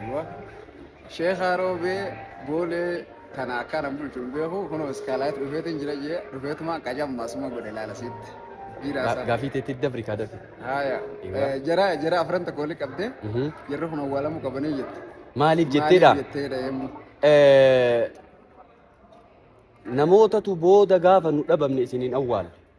Aywa. Sheekaa roobee boolee kana akkana bulchu hin beeku kunoo iskaalaayit dhufeetiin jira jee dhufeetuma qajamma asuma godhe ilaala siitti. Dhiiraa isaa. Gaafii teetti dabri kaa dafi. Haaya. Egaa. Eh, Jara jara afran tokko wali qabdee Mhm. jarri kun awwaalamuu qabanii jette. Maaliif jetteedha? Maaliif jetteedha yemmuu. Eh, Namootatu booda gaafa nu dhabamne isiniin awwaala.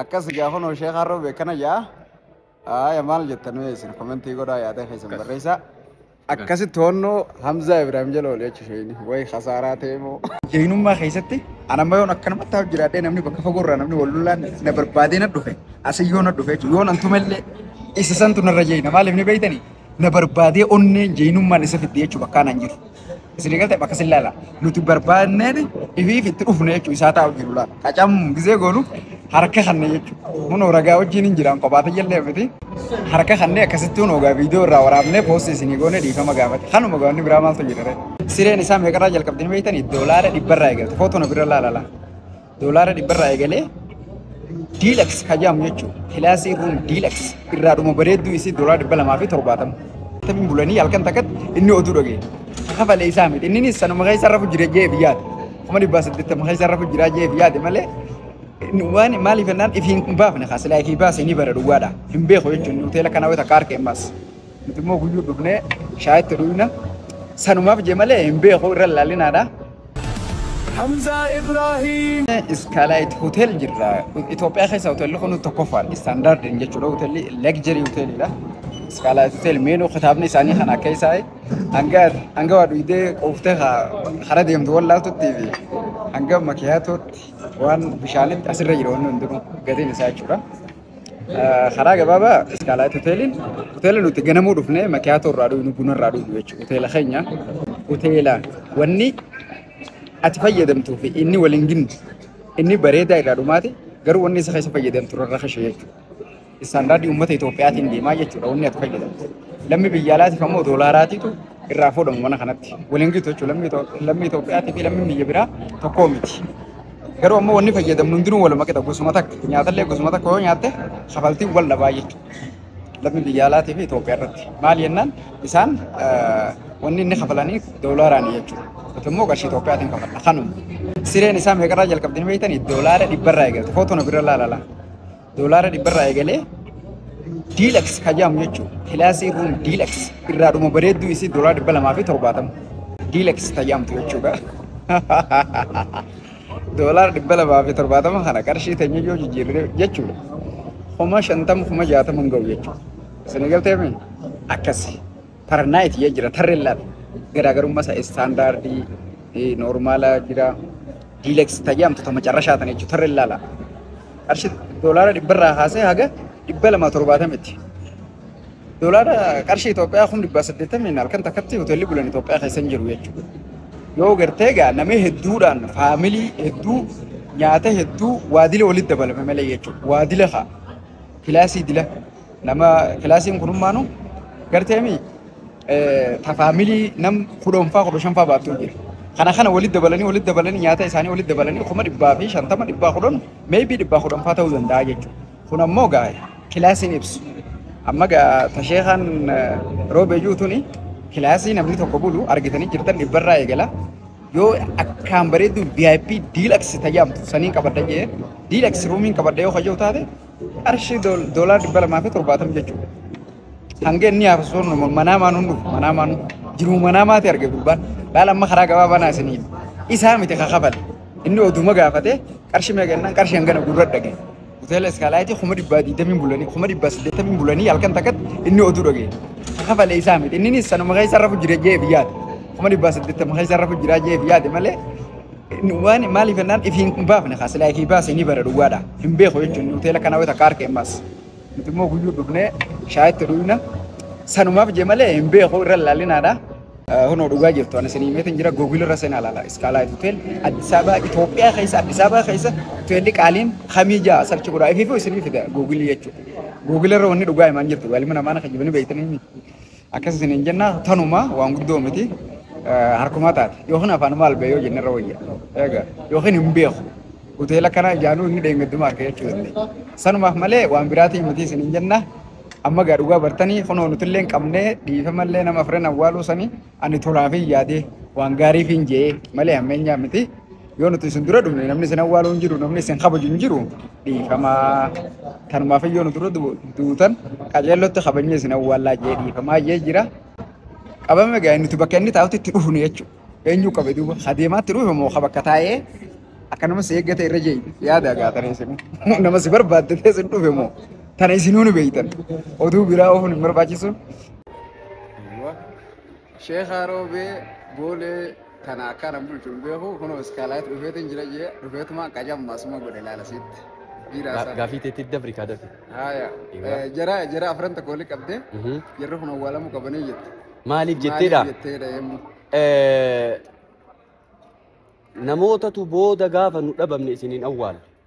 Akkasi gaa kunoo sheekaa roobi akkana jaa. Aaya maal jettan mee isin komentii godhaa yaada keessan Akkas. barreessaa. Akkas. Akkasi toonnoo Hamzaa Ibraahim jala olee cishooyini. Way khasaaraa ta'e moo. Jaynummaa keessatti ana amma yoon akkanumatti haaf jiraadhee namni bakka fagoo irraa namni wal lolaan na barbaadee na dhufe. Asin yoo na dhufe jechuudha. Yoon antuma illee isa santu narra jeeyina. Maaliif ni beeytanii? na barbaadee onneen jeenummaan isa fidde jechuu bakkaa naan jiru. Isin eegalte bakka sin laala. Nuti barbaadneen ifiif itti dhufne jechuu isaa taa'u jiru laala. Qacam gizee goonu harka kanne jechuu. Kunoo ragaa wajjin hin jiraan kophaa tayyallee miti. Harka kanne akkasitti kunoo gaa viidiyoo irraa waraabnee poostii isinii goone dhiifama gaafate. Kanuma gaafni biraa maaltu jira ree? Sireen isaa meeqarraa jalqabdanii beektanii? Doolaara dhibbarraa eegalte. Footoo na bira laala laa. Doolaara dhibba irraa eegalee diilaks ka jedhamu jechuudha. Kilaasii ruum diilaks irraa dhuma bareedduu isii doolaara dhibba lamaa fi torbaatama. Tamiin bulanii halkan takkatti inni oduu dhaga'e. Kakafale isaa miti. Inninis sanuma keessa rafu jira jee biyyaati. Kuma dhibbaa saddeettama keessa rafu jira jee biyyaati malee waan maaliif jennaan ifi hin baafne kaa silaa ifi baase ni bara duwwaadha. Hin beeku jechuun hoteela kana wayita akka arke hin baase. Nuti immoo guyyuu dhufnee shaayitti dhuyna. Sanumaaf jee malee hin beeku irra laalinaadha. Hamza Ibrahim. Iskaalaayit hotel jirra. Itoophiyaa keessa hotelli kun tokkoffaadha. Istaandaardiin jechuudha hotelli legjerii hotelidha. Iskaalaayit hotel meenuu kitaabni isaanii kan akka isaa hanga hanga waa dhuydee quuftee hara deemtu wallaaltutti fi hanga makiyaatootti waan bishaanitti asirra jiru wanni hundinuu gatiin isaa jechuudha. Karaa gabaabaa Iskaalaayit Hoteeliin hoteela nuti ganamuu dhufne makiyaatoo irraa dhugnu buna irraa dhugnu jechuudha. Hoteela keenya hoteela wanni ati fayyadamtuu fi inni waliin ginu inni bareedaa irraa dhumaati garuu wanni isa keessa fayyadamtu irra kashe jechuudha. Istaandaardii uummata Itoophiyaatiin deemaa jechuudha wanni ati fayyadamtu. Lammi biyya alaatiif ammoo doolaaraatiitu irraa fuudhamu mana kanatti. Waliin gitu jechuudha lammi Itoophiyaa fi lammi biyya biraa tokkoo miti. Garuu ammoo wanni fayyadamnu hundinuu waluma qixa gosuma takka. Nyaatallee gosuma takka yoo nyaatte kafaltiin wal dhabaa jechuudha. Lammii biyya alaatii fi Itoophiyaa irratti. Maal jennaan isaan eh, wanni inni kafalanii doolaaraan jechuudha. Nuti immoo qarshii Itoophiyaatiin kafalla. Kanuma. Sireen isaa meeqarraa jalqabdanii beektanii? Doolaara dhibbarraa eegalte. Footoo na bira laalala. Doolaara dhibba irraa eegalee diilax kajaam jechuun kilaasii ruum diilax irraa dhuma bareedduu isii doolaara dhibba lamaa fi torbaatama diilax kajaamtu jechuudha. Doolaara dhibba lamaa fi torbaatama kana qarshii teenya yoo jijjiirre jechuudha. Kuma shantama kuma jaatama hin ga'u jechuudha. Isin galteemi akkasi. Parnaayit jee jira tarreen laal garaagarummaa isaa istaandaardii eh, noormaala jira diileeks tajaamtu ta macarrashaa tana jechuudha tarreen laala qarshii doolaara dhibba irraa haasee haga dhibba lamaa torbaatamitti doolaara qarshii Itoophiyaa kun dhibba saddeettamiin halkan takkatti hoteelli bulan Itoophiyaa keessa hin jiru jechuudha yoo gartee egaa namni hedduudhaan faamilii hedduu nyaata hedduu waadila walitti dabalame malee jechuudha waadila haa kilaasii dila Nama kilaasiin kun hummaanu garteemi tafaamilii nam kudhanfaa kudha shanfaa baattuu jira. Kana kana walitti dabalanii walitti dabalanii nyaata isaanii walitti dabalanii kuma dhibbaa fi shantama dhibbaa kudhan meebii dhibbaa kudhanfaa ta'uu danda'a jechuudha. Kun ammoo gaa kilaasiin ibsu. Amma gaa tasheekaan roobee jiru tuni kilaasii namni tokko bulu argitanii jirtan dhibbarraa eegala. Yoo akkaan bareedu VIP deluxe tajaamtu saniin qabadha jee deluxe ruumiin qabadha yoo kayyoo taate qarshii dool- doolaara dhibba lamaa fi torbaatamni jechuudha. Hanga inni hafu sun manaa maan hundu manaa maan jiru manaa maati arge gurbaan laal amma karaa gabaa banaa isiniin isaa miti kakafale inni oduma gaafate qarshii meeqa jennaan qarshii hangana gurra dhage hoteela iskaalaayitii kuma dhibbaa digdamiin bulanii kuma dhibbaa saddeettamiin bulanii halkan takkatti inni oduu dhage kakafale isaa miti inninis sanuma keessa rafu jira jee biyyaati kuma dhibbaa saddeettama keessa rafu jira jee biyyaati malee Waan maaliif jennaan ifi hin baafne kaa silaa ifi baase ni bara duwwaadha. Hin beeku jechuun hoteela kana wayita akka arke ammas. Nuti immoo guyyuu dhufnee shaayitti dhuyna. Sanumaaf jee malee hin beeku irra laalinaadha. Hunoo dhugaa jirtu ani isin himeetiin jira googil irra seenaa laala. Iskaalaayit hotel Addis Ababa Itoophiyaa keessa Addis Ababa keessa hoteelli qaaliin kamii ja'a sarchi godhaa ifiifuu isinii fida googilii jechuudha. Googil irra wanni dhugaa himaan jirtu galmi namaan akka jibini beektanii miti. Akkas isiniin jenna tanuma waan guddoo miti harkumaa taate yookiin afaan maal ba'e yoo jenne irra wayya. Egaa yookiin hin beeku. Hoteela kana ijaanuu inni dheengaddumaa akka jechuu dandeenya. Sanumaaf malee waan biraatiin miti isiniin jenna. Amma egaa dhugaa bartanii kunoo nutillee hin qabnee dhiifamallee nama afran awwaaluu sanii ani tolaafin yaadee waan gaariifin je'ee malee hammeenyaa miti. Yoo nuti isin dura dhufne namni isin awwaalu hin jiru, namni isin kabaju hin jiru dhiifamaa. Kanumaaf yoo nu dura du- duutan qajeellotti kabajnee isin awwaallaa jee dhiifamaa jee jira. Qabame ga'e nuti bakka inni taa'utti itti dhufne jechuudha. Eenyu qabe duuba? Ka deemaatti dhufe moo ka bakka taa'ee akkanuma si eeggate irra jee yaada gaatanii isin. Nama si barbaadde ta'e isin dhufe moo? Tana isinuu ni beektan. Oduu biraa oofuun hin barbaachisu. Sheekaa Roobee Boolee kana akka nan bulchu hin beeku kunoo iskaalaatti dhufeetiin jira jee dhufeetuma qajamma suma godhe laala siitti. Biiraa isaa. Gaafii teetti dabri kaa dafi. Haaya. Egaa. Eh, Jara jara afran tokko wali qabdee Mhm. jarri kun awwaalamuu qabanii jette. Maaliif jetteedha? Maaliif jetteedha yemmuu. Eh, Namootatu booda gaafa nu dhabamne isiniin awwaala.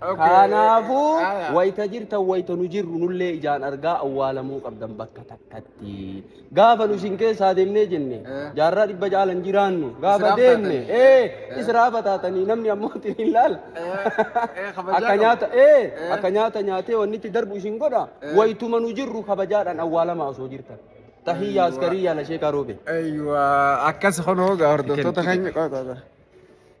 Kanaafuu wayita jirtan wayita nu jirru nullee ijaan argaa awwaalamuu qabdan bakka takkatti. Gaafa nu isin keessaa deemnee jenne jaarraa dhibba caalan jiraannu gaafa deemne ee israafa taatanii namni ammoo isin hin laala. Akka nyaata ee akka nyaata nyaatee wanni itti darbu isin godha wayituma nu jirru kabajaadhaan awwaalamaa osoo jirtan. Tahiyyaa askarii yaala sheekaa roobe. Akkas kunoo hordoftoota keenya qofa.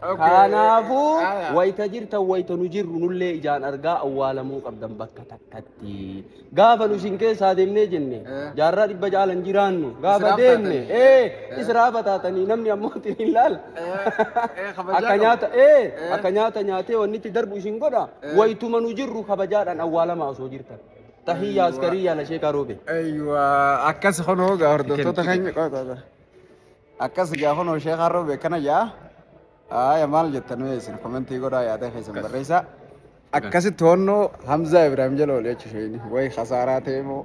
Kanaafuu wayita jirtan wayita nu jirru nullee ijaan argaa awwaalamuu qabdan bakka takkatti. Gaafa nu isin keessaa deemnee jenne jaarraa dhibba jaalan jiraannu gaafa deemne ee israa bataatanii namni ammoo isin hin laala. Akka nyaata ee akka nyaata nyaatee wanni itti darbu isin godha wayituma nu jirru kabajaadhaan awwaalamaa osoo jirtan. Tahiyyaa askarii yaala sheekaa roobee. Eeyyuu akkas honoo gaa hordoftoota keenya qofa. Akkas gaa kunoo sheekaa roobi akkana jaa. Aaya maal jettan mee isin komentii godhaa yaada keessan Akkas. barreessaa. Akkasitti hoonnoo Hamzaa Ibraahim jala olee jechuudha. Way kasaaraa ta'e moo.